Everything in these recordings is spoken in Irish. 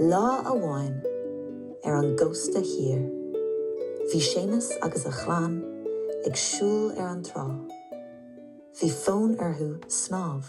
Lá amháin ar an gcósta thiar, bhí Séamus agus a chlann ag siúl ar an trá. Bhí fonn orthu snámh.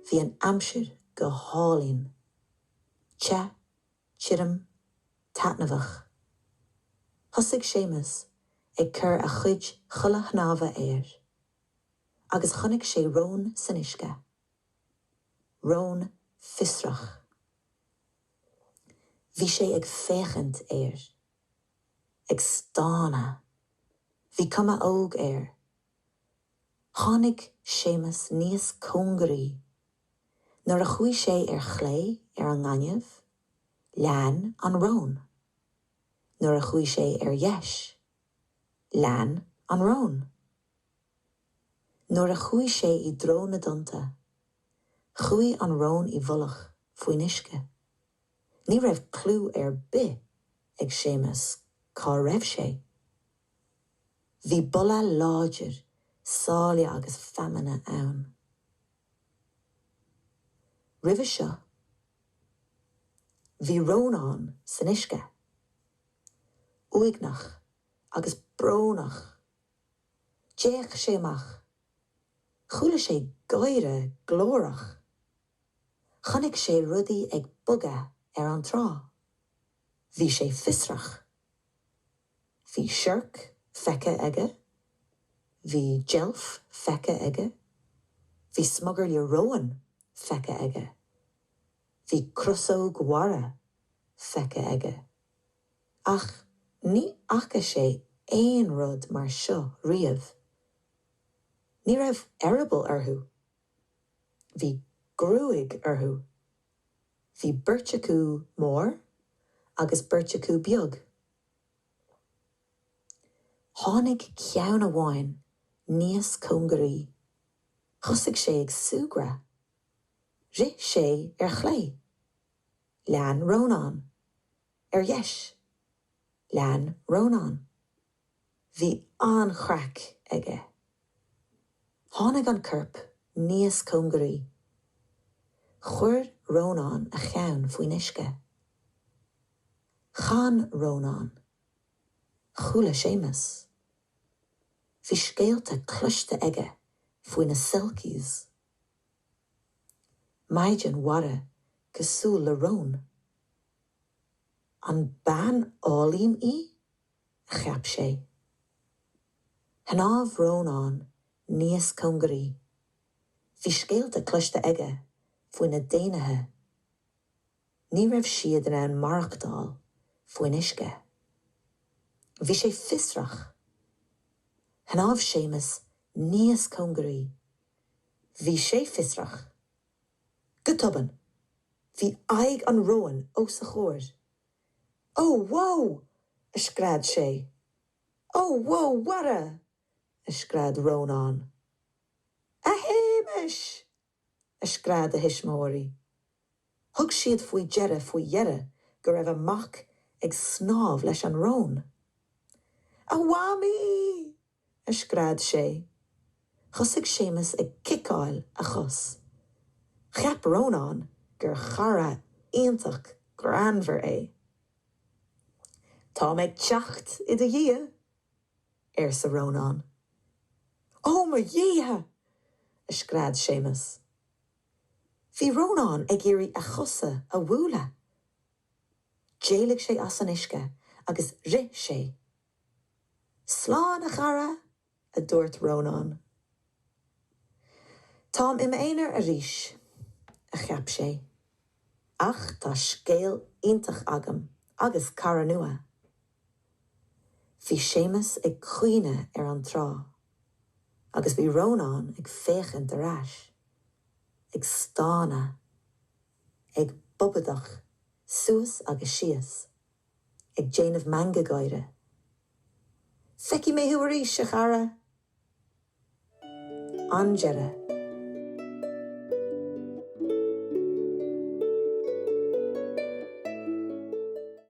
Bhí an aimsir go hálainn, te, tirim, taitneamhach. Thosaigh Séamus ag cur a chuid chulaith shnámha air. agus chonaic sé rón san uisce. Rón fiosrach. Bhí sé ag féachaint air. Ag stánadh. Bhí cuma óg air. Tháinig Séamus níos cóngaraí. Nuair a chuaigh sé ar chlé ar an ngaineamh, lean an rón. Nuair a chuaigh sé ar dheis, lean an rón. Nuair a chuaigh sé i dtreo na dtonnta, chuaigh an rón i bhfolach faoin uisce. Ní raibh clue ar bith ag Séamus cá raibh sé. Bhí boladh láidir sáile agus feamainne ann. Roimhe seo, bhí Rónán san uisce, uaigneach agus brónach. D'fhéach sé amach. Chuala sé gáire glórach. Chonaic sé rudaí ag bogadh ar an trá. Bhí sé fiosrach. Bhí siorc feicthe aige. Bhí deilf feicthe aige. Bhí smugairle róin feicthe aige. Bhí crosóg mhara feicthe aige. Ach ní fhaca sé aon rud mar seo riamh. Ní raibh eireaball orthu. Bhí gruaig orthu. Bhí beirt acu mór agus beirt acu beag. Tháinig ceann amháin níos cóngaraí. Thosaigh sé ag súgradh. Rith sé ar chlé. Lean Rónán. Ar dheis, lean Rónán. Bhí an-chraic aige. Tháinig an corp níos cóngaraí. Chuir Rónán a cheann faoin uisce. Chan Rónán. Chuala Séamus. Bhí scéalta cloiste aige faoi na selkies. Maighdean mhara cosúil le rón. An bean álainn í? a cheap sé. Shnámh Rónán níos cóngaraí. Bhí scéalta cloiste aige faoi na daonnaithe. Ní raibh siad in ann maireachtáil faoin uisce. Bhí sé fiosrach. Shnámh Séamus níos cóngaraí. Bhí sé fiosrach. Go tobann, bhí aghaidh an róin os a chomhair. Ó, wow! a scread sé. Ó, wow, mhara! a scread Rónán. A Shéamais! a scread a thuismitheoirí. Thug siad faoi deireadh faoi dheireadh go raibh a mac ag snámh leis an rón. A Mhamaí! a scread sé. Thosaigh Séamus ag ciceáil a chos. Cheap Rónán gur chara iontach greannmhar é. 'Tá mé ag teacht i do dhiaidh! arsa Rónán. 'Ó mo dhéithe! a scread Séamus. Bhí Rónán ag iarraidh a chosa a bhualadh. D'éalaigh sé as an uisce agus rith sé Slán a chara, a dúirt Rónán. Táim i m'aonar arís, a cheap sé. Ach tá scéal iontach agam agus cara nua. Bhí Séamus ag caoineadh ar an trá agus bhí Rónán ag féachaint ar ais, ag stánadh, ag bobadach suas agus síos. ag déanamh meangadh gáire. Feicfidh mé thú arís, a chara! An deireadh.